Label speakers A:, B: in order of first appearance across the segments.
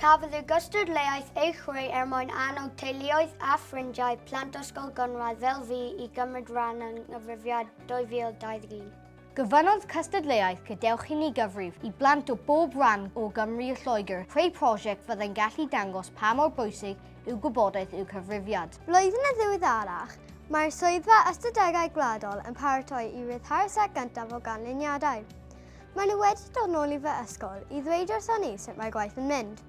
A: Cafodd y gystadleuaeth ei chreu er mwyn annog teuluoedd a ffrindiau plant Ysgol Gynradd fel fi i gymryd rhan yng Nghyfrifiad 2021. Gofynnodd
B: cystadleuaeth Gadewch i ni gyfrif i blant o bob rhan o Gymru a Lloegr creu prosiect fyddai'n gallu dangos pa mor bwysig yw gwybodaeth i'w cyfrifiad. Blwyddyn yn ddiweddarach,
C: mae'r Swyddfa Ystadegau Gwladol yn paratoi i ryddhau'r set gyntaf o ganlyniadau. Maen nhw wedi dod nôl i fy ysgol i ddweud wrthon ni sut mae gwaith yn mynd.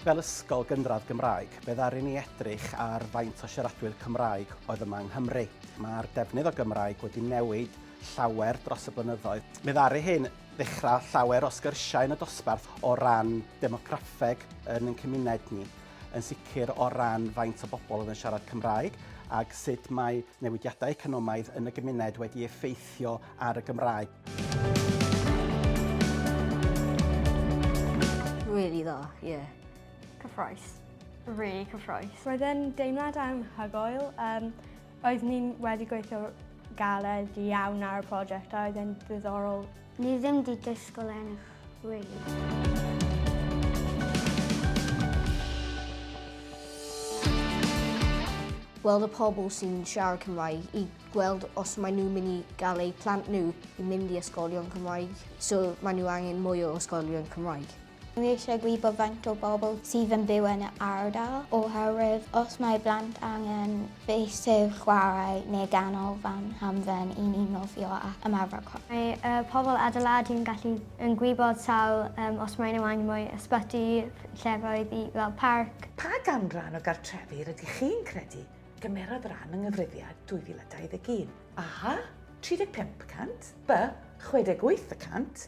D: Fel ysgol gynradd Gymraeg, fe ddaru ni edrych ar faint o siaradwyr Cymraeg oedd yma yng Nghymru. Mae'r defnydd o Gymraeg wedi newid llawer dros y blynyddoedd. Fe ddaru hyn ddechrau llawer o sgyrsiau yn y dosbarth o ran demograffeg yn ein cymuned ni. yn sicr o ran faint o bobl oedd yn siarad Cymraeg ac sut mae newidiadau economaidd yn y gymuned wedi effeithio ar y Gymraeg.
B: Really dda, ie. Yeah. Cyffroes.
E: Really cyffroes. Roedd e'n deimlad
F: anhygoel. Um, oedd ni'n wedi gweithio galed iawn ar y prosiect a oedd e'n ddiddorol Ni ddim di
A: dysgol enw,
B: really. gweld y pobl sy'n siarad Cymraeg i gweld os maen nhw'n mynd i gael eu plant nhw i mynd i ysgolion Cymraeg. So maen nhw angen mwy o ysgolion Cymraeg. Dwi eisiau gwybod
G: faint o bobl sydd yn byw yn y ardal oherwydd os mae blant angen feysydd chwarae neu ganolfan hamdden i ni nofio a ymarfer corff. Mae y pobl
E: adeiladu yn gallu yn gwybod sawl yym os mae nhw angen mwy ysbyty, llefoedd i fel parc. Pa ganran o
H: gartrefi rydych chi'n credu gymerodd ran yng Nghyfrifiad 2021? A, 35 y cant, B, 68 y cant,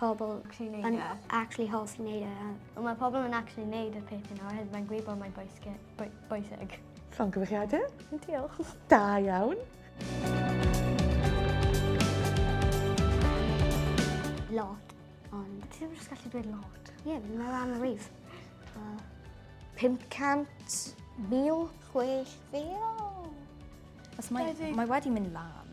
A: pobl yn actually hoffi neud e. Ond mae pobl yn actually
E: neud y peth yna oherwydd mae'n gwybod mae'n bwysig. Llongyfarchiadau.
H: Diolch.
E: Da iawn.
A: Lot, ond... Ti ddim yn gallu dweud
E: lot. Ie, yeah, mae rhan o
A: rif.
B: Uh,
G: 500
I: mil, 6 fil. Mae wedi mynd lan.